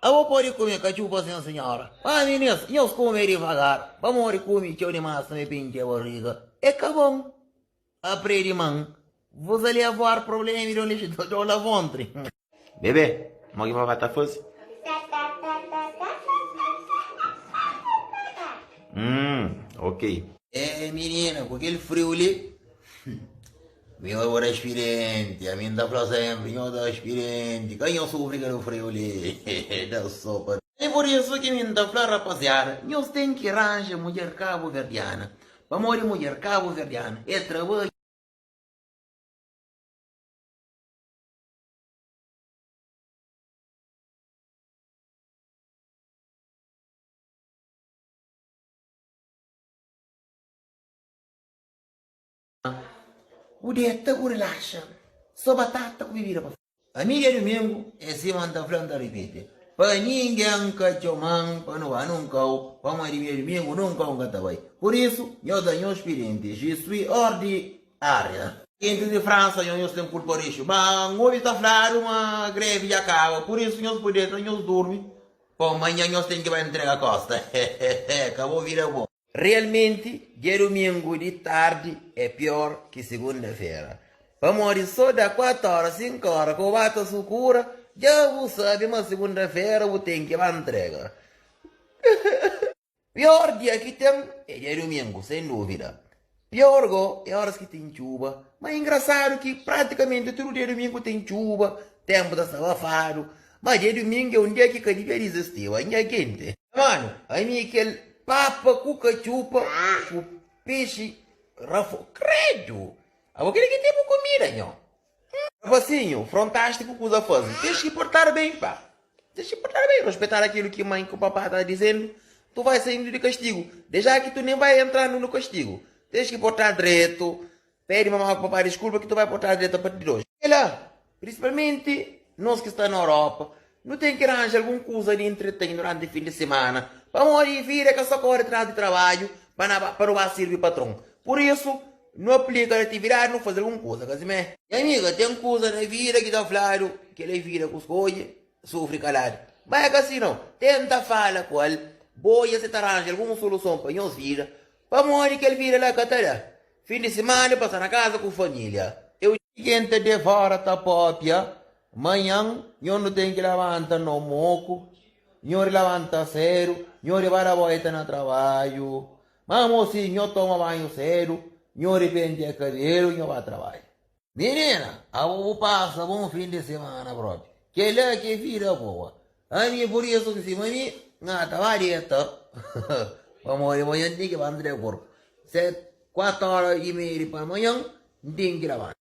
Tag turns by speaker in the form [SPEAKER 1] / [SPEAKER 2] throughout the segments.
[SPEAKER 1] Abo pode kume katxupa sen senhora. Mas minis, nhos kume divagar, pamodi kume txeu dimás tanbe pa intxi barriga é ka bon. Apre di man, vos ali avoar problema y donde xi dor la vontri. Bebe, mo ki vavá ta faze? Hum, ok. Éh, minina, ku kel friu li. Mi oi bo da xpirienti ami nta fla senpri nho da xpirienti ka nho sufri ka nofri olé he da sopa. É por isu ki mi nta fla rapaziada nhos ten ki ranja mudjer kabuverdiana pamodi mudjer kabuverdiana é trabadju. Bu deta bu relaxa Só batata ku bebida pa. Pa mi dia dumingu é sima N ta fla N ta ripiti Pa ningen N ka txoma-m pa nu ba nunkau Pamodi mi dia dumingu nunkau N ka ta bai Pur isu nhos da nhos xpirienti Je suis hors di área Gentis di Fransa nhos nhos ten kulpa rixu Má N obi ta fladu ma grevi dja kaba Pur isu nhos pudi deta nhos durmi Pamodi manhan nhos ten ki bai ntrega kosta Hehehe Ka bo vida bon. Realmenti, dia dumingu di tardi é pior ki segunda-fera, pamodi so da 4 óra, 5 óra ku ba ta sukura, dja bu sabe ma segunda-fera bu ten ki ba ntrega. Pior dia ki ten é dia dumingu, sen duvida. Pior go é oras ki ten txuba. Má ingrasadu ki pratikamenti tudu dia dumingu ten txuba, tenpu ta sta abafadu. Má dia dumingu é un dia ki ka dibia dizistiba, é un dia kenti. Manu, ami é kel papa ku ka txupa ku pexi rafou. Kredu! Abo kel ki ten bu kumida, nho. Rapasinhu, frontaste ku kuza faze. Tens ki portar ben, pa. Tens ki portar ben, rospeitar akilo ki mãe, ku papá ta dizendu. Tu vai saindu di kastigu. Deja ki tu nen vai entrandu nu kastigu. Tens ki portar dretu. Pede mamá ku papá diskulpa ki tu vai portar dretu a parti di oji. Txegai la, prinsipalmenti nos ki sta na Europa, Nu ten ki ranja algun kuza di entretém duránti fin di simana, pamodi vida ka sta kóre tras di trabadju pa na ba pa nu ba sirbi patron. Pur isu, nu aplika na atividadi nu faze algun kuza ka simé. Nha amiga, ten kuza na vida ki ta fladu, Kel-la é vida ku skodje, sufri kaladu. Má é ka si nau. Tenta fala ku el, Bo odja si ta ranja algun soluson pa nhos vida, pamodi kel vida la ka ta da. Fin di simana, pasa na kaza ku família. Eu. Ken ta devora ta pâpia, Manhan, nho nu ten ki labanta no moku, nho di labanta sedu, nho di bada boita na trabadju. Má mosi, nho toma banhu sedu, nho di pentia kabelu, nho ba trabadja. Minina, abo bu pasa bon fin di simana propi. Kel-la ki é vida boa. Ami, pur isu ki sima mi, N ata ba deta, pamodi manhan N ten ki labanta di akordu ses kuatu óra i meiu di pela manhan, N ten ki labanta.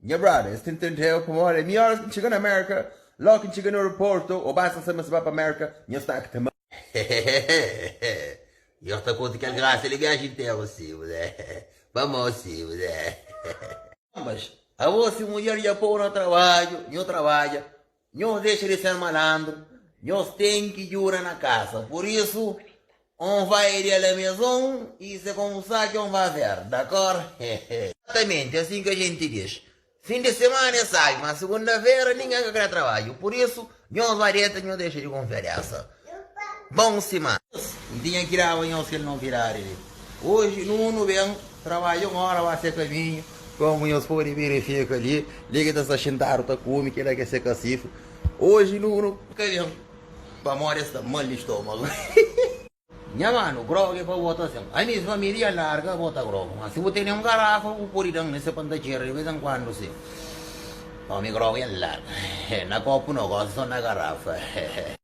[SPEAKER 1] Nha brother, es ta intendeu pamodi é mior es txiga na Mérka, lógu ki N txiga na aeroportu, ô basta N sabe ma es ba pa Mérka, nha stómaka ta. Hehehehehehe Nhos ta konta kel grasa li viaji interu sima pa mó sima. Anbas, abo si mudjer dja pô-u na trabadju, nhu trabadja. Nhos dexa di ser malandru, nhos ten ki djuda na kasa. Pur isu, N vai di la meson i se komu sa ki N va ver. Dakor? Hehe. Exatamenti asin ki ajenti diz. Fin di semana é sabi, ma segunda-fera ningen ka kre trabadju. Pur isu, nhos va deta, nhos dexa di konfia desa. Bon sima. N tinha ki daba nhos kel novidadi li. Oji Nunu ben trabadja un ora ba se kaminhu, komu nhos podi verifika li, li ki ta sta xintadu ta kumi, kila ki é se kasifu. Oji Nunu ka ben pamodi el sta mal di stomagu. Nha manu, grogu é pa bo ta sen. Ami, si familia larga, bo ta grogu. Ma si bu tene un garafa, bu podi da-m li se pa N ta txera di bes en kuandu si. Omi, grogu é larga. Na kopu no gosi, so na garafa.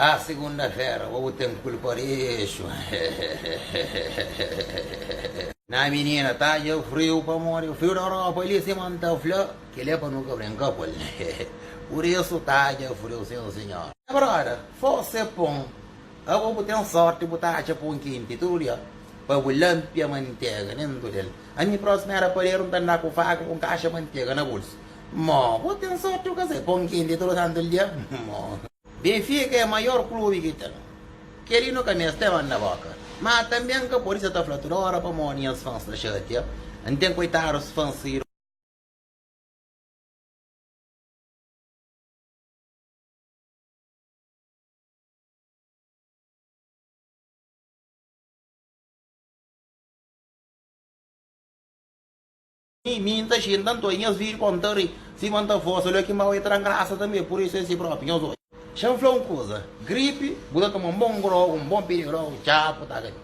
[SPEAKER 1] A segunda-fera bo bu ten kul pa rixu hehehehehehehehehe. Nha minina ta dja friu pamodi friu da Europa li sima n ta fla kel é pa nu ka brinka ku el hehe pur isu ta dja friu sin sinhor. Nha brother fose pon abo bu ten sorti bu ta atxa pon kenti tudu dia pa bu lanpia mantega dentu del ami prosma era paderu n ta anda ku faka ku un kaxa mantega na bulsu Mo, bo ten sorti bu ka sai pon kenti tudu santu dia. Mo. Benfica é maior klubi ki ten. Keli nu ka meste manda boka. Ma tanbe n ka podi sa ta fla tudu ora pamodi nhas fans ta xatia. N ten koitadus fans sidu. Mi, mi N ta xinta antoi nhos viri pa-u N ta ri, sima N ta forsa Olha ki mau e tra-m grasa tanbe Pur isu es si propi nhos odja Xa N fla un kuza Gripi bu ta toma un bon grogu Un bon pidirogu Txau bu ta gana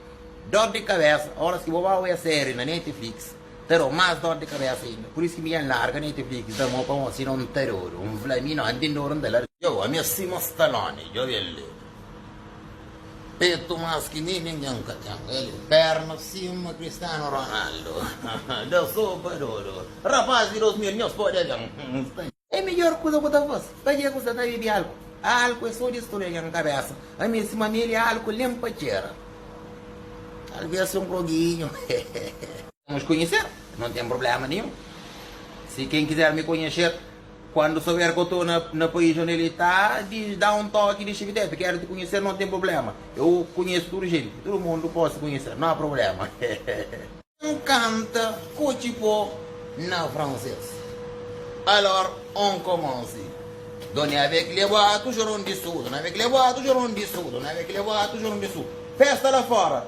[SPEAKER 1] Dor di kabesa Óras ki bo ba oia série na Netflix Ta da-u más dor di kabesa inda Pur isu ki mi N larga Netflix N ta mó pa-u Sima N ta dodu N fla mi no N ten dodu N ta larga Djobe ami é sima Stallone Djobe el li. Petu más ki mi ningen ka ten el Perna sima Cristiano Ronaldo Da sopa dodo Rapaz di 2000 nhos pode ben É midjor kuza ku ta fase Pa ke ku sta ta bebe álku Álku é so distrui algen kabésa Ami é sima meli álku nen pa txera Talvês si un kroginhu Nos konheser Não tem problema nenhum Si ken kizer mi konheser. Kuandu souber k'o tô na país onde el tá, diz, dá um toque, diz, Chico Tete, quero te conhecer, não tem problema, eu conheço tudo gente, tudo mundo posso conhecer, não há problema, hehehe. Um canta k'o txipô na francês. Alors on commence, Doni avec les bois toujours on dissout, Doni avec les bois toujours on dissout, Doni avec les bois toujours on dissout, festa lá fora.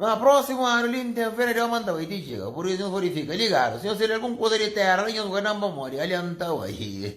[SPEAKER 1] Ma prósimu anu li N ten fé na Deus ma N ta bai ti txiga. Pur isu N fla, Fika ligadu, si nhos fla-l algun kuza di Téra li, nhos ku ka da-m pamodi ali N ta bai.